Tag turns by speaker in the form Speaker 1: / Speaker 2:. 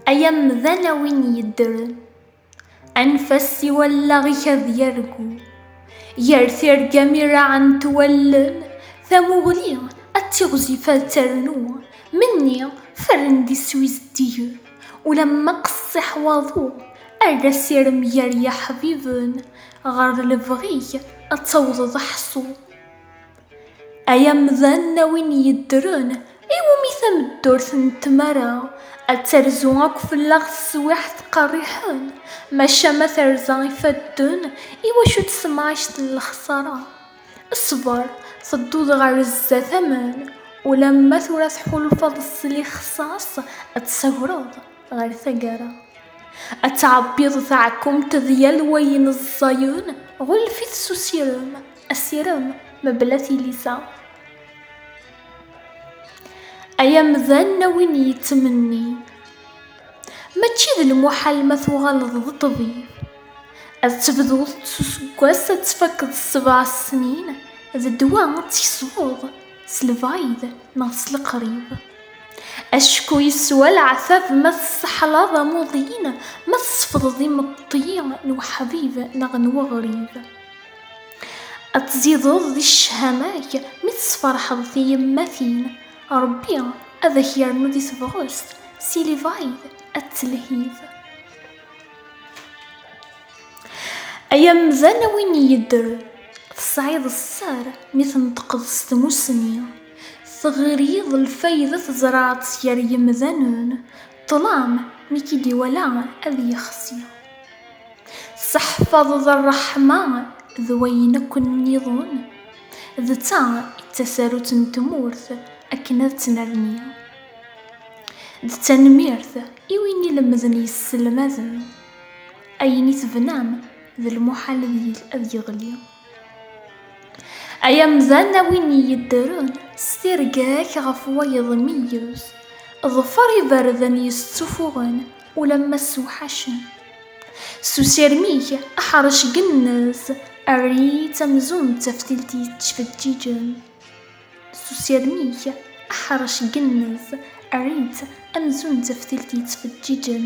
Speaker 1: Ay amdan a win yeddren, anef-as i wallaɣ-ik ad yargu, gar tirga mi raɛent wallen, tamuɣli ad tiɣzif ad ternu, menni ferren d iswi zeddigen, ulamma qessiḥ waḍu, err asirem gar yiḥbiben, ɣer lebɣi-k ad tawḍeḍ aḥṣu. Ay amdan a win yeddren, iwumi tameddurt n tmara ad terzu akk fell-aɣ teswiɛt qerriḥen, maca ma terza ifadden, iwacu tsemɛict n lexsara? Sber, tedduḍ ɣer zdat amen, ulamma tura tḥulfaḍ s lixsas ad tsagreḍ ɣer taggara. Ad tɛebbiḍ taɛkumt d yal wayen ẓẓayen, ɣulef-it s usirem. Asirem mebla tilisa. Ay amdan a win yettmenni Mačči d lmuḥal ma tuɣaleḍ d ṭṭbib Ad tebduḍ s useggas ad tfakkeḍ sebɛa snin D ddwa ad tkesbeḍ s lbayd neɣ s leqrib Acku yeswa leɛtab ma tseḥlaḍ amuḍin Ma tsefḍeḍ imeṭṭi n uḥbib neɣ n weɣrib Ad tzideḍ di ccehama-k mi tesferḥeḍ tiyemmatin, Ṛebbi ad ak-yernu di tebɣest, si lebɛid ad d-telhiḍ. Ay amdan a win yeddren, tesɛiḍ sser mi tneṭqeḍ s tmussni, teɣriḍ lfayda tzerɛeḍ-tt gar yemdanen, ṭṭlam mi k-id-iwala ad yexsi. Tesseḥfaḍeḍ ṛṛeḥma d wayen akk nniḍen, d ta i d tasarut n tmurt akken ad tt-nerni. D tanemmirt i win ilemden yesselmaden, ayen i tebnam d lmuḥal ad yeɣli. Ay amdan a win yeddren s tirga-k ɣef wayeḍ meyyez, ḍfer iberdan yessufuɣen ulamma ssewḥacen. S usirem-ik aḥerc gennez, err-itt amzun d taftilt yettfeǧǧiǧen. S usirem-ik aḥerc gennez, err-itt amzun d taftilt yettfeǧǧiǧen.